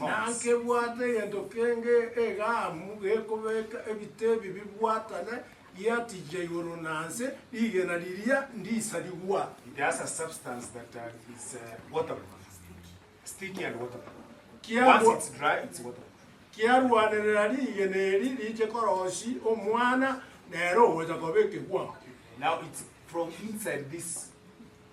Nankebwate egento kenge egaamu gekobeka ebite ebi bibwatane, giatigia igoro na nse, rigena riria ndiisa rigwate. Kiarwanerera rigena eri riche korosia omwana, nere ogocha koba ekegwao.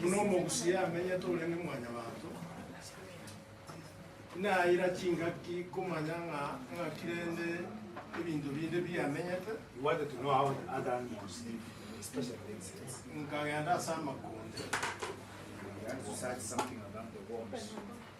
Buna omogusi amenyete orenge mwanyabanto, naira chingaki komanya ng'a ng'aki rende ebinto binde biamenyete, nkagenda ase amakonde.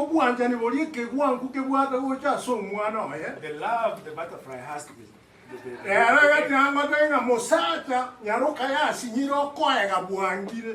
Obwanchani boria ekegwanku kebwate gocha ase omwana oye, rero egati ang'ote ng'a, Mosacha, nyaroka yasinyire okoega bwangire.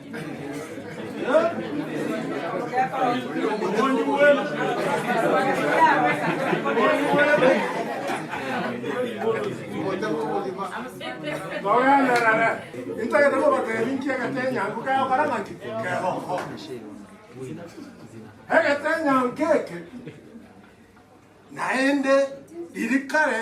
Togenderere, intagete kobateebia inki egetenyanku kegokora ng'aki? Kegokora. Egetenyanku eke naende riria kare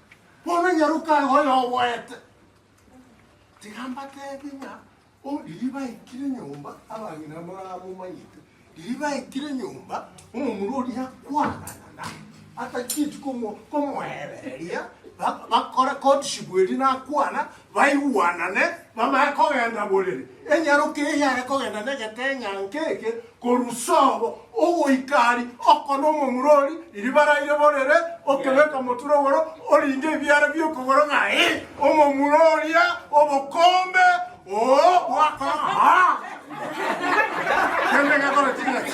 Bono nyaroka aye oyoboete, tiga mbateebie ng'a o riria baikire nyomba abang'ina moramomanyete, riria baikire nyomba omomura oria akwanana na atachieti komo- komoereria, ba- bakora courtship eria nakwana, baigwanane, bamanye kogenda borere. Enyaroka eye yare kogenda negeteng'anke eke korwa sobo ogoika ari, oko nomomura ori riba raire borere, okebeka omotwe rogoro, orinde ebiara bi'okogoro ng'ai, omomura oria obokombe oo bwakora aa. Kende gekoreti ng'aki?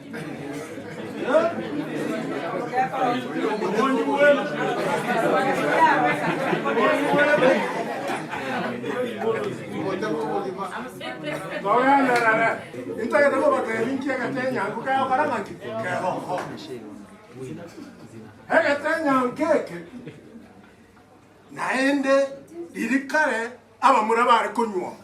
Togenderere, intagete kobateebia inki egetenyanku kegokora ng'aki? Kegokora. Egetenyanku eke naende riria kare abamura bare konyuoma,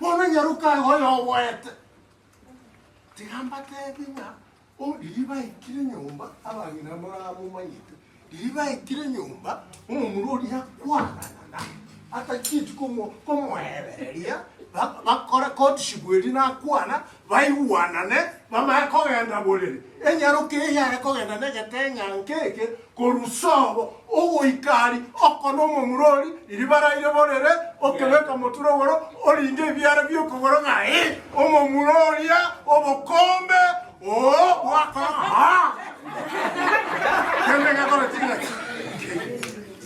Bono nyaroka aye oyoboete, tiga mbateebie ng'a o riria baikire nyomba abang'ina moramomanyete, riria baikire nyomba omomura oria akwanana na atachieti komo- komoebereria, ba- bakora courtship eria nakwana, baigwanane, bamanye kogenda borere. Enyaroka eye yare kogenda negeteng'anke eke korwa sobo ogoika ari oko nomomura ori riria baraire borere, okebeka motura ogoro orinde ebiara bi'okogoro ng'ai omomura oria obokombe oo bwakora.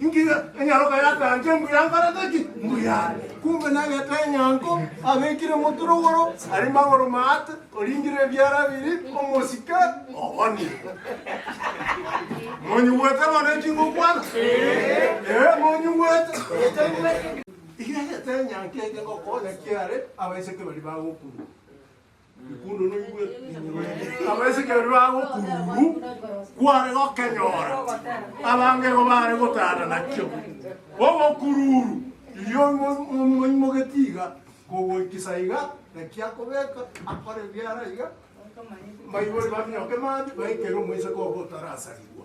Ingira enyaroka y'akancha embuya nkorete ki? Mbuya are. Kumbe nagete enyango, abekire omotwe rogoro, aria magoro maate, oringire ebiara biri, omosike obonire. Monyigwete bono eki ngokwana? Ee, monyigwete. Iga egete enyango eke ngokonya kiare abaiseke baria bagokurwa. Abaisa ekero bibaga okururu kware gokenyora, abange igo bare gotana nakio. Obokururu irio moimogetie iga, kogoikisa iga, naki akobeka, akore ebiara iga, baibori baminyoke mabi, baikere omoiseke obo otarasarigwa.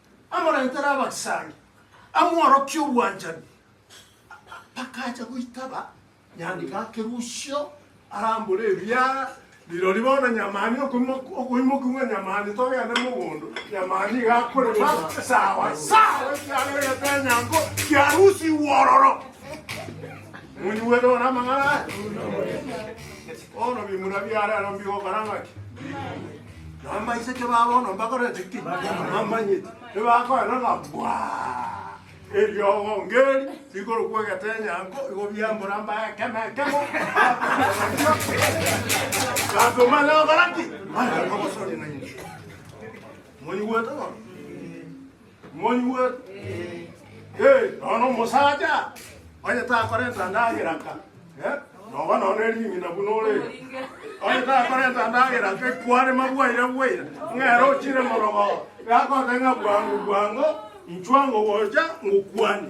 Amoretere abasangi, amworokie obwanchani. Bakacha goitaba nyangi gake Rusio arambore ebiara, Rirorio bono nyamani okoimokia ng'a nyamani togende mogondo, nyamani iga akorema sawa sawa ekiagera egetenyango kia Rusio igwo ororo. Monyigwete bono amang'ana aya? Bono bimura bia rero mbigokora ng'aki? Nambaiseke ba bono mbakorete ki? Namanyeti. Ebakoenda ng'a bwaa! Eriogo ngeri rikorokwa egetenyanko, igo biambora mbae ekemo ekemo, Gato manye gokora ki? Manye komosoria nainche. Monyigwete bono? Moigwe? Eh, nonya na omosacha onye takorenta ndagera nka, eh, noba nonya na ering'ina buna ore. Onye takorenta ndagera nka ekwarema bwaira bwaira, ng'ere ochire morogo, gakoteba ng'a bwango bwango, inchwa ngogocha ngokwani.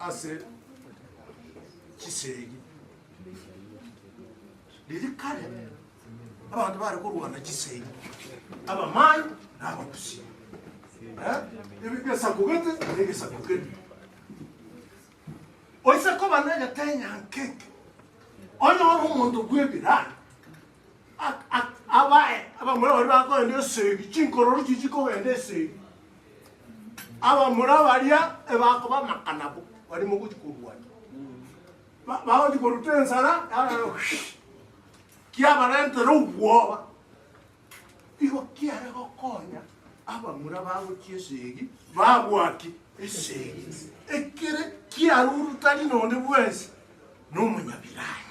ase chisegi. Riria kare abanto bare korwana chisegi, abamai na abagusi. Eh, ebi- egesaku gete na egesaku kende. Oise koba negetenyanke eke, onyore omonto bw'ebirani abae abamura baria bakogenda esegi, chinkororu chiria chikogenda esegi, abamura baria ebakoba amaka nabo, baria mogochia korwana. Ba- bagochia koruta ensara yara kiabarentera obwoba, igo kiare gokonya abamura bagochia esegi babua ki? Esegi. Ekere kiarurutani nonde bwensi nomonyabiranya.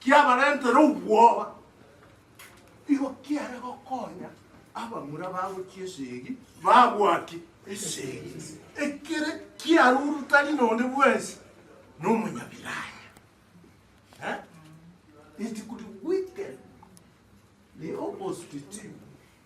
kiabarentere obwoba, igo kiare gokonya abamura bagochia esegi babwati esegi, ekere kiaruru tari nonde bwensi nomonyabiranya. Eh? It could weaken the opposite team.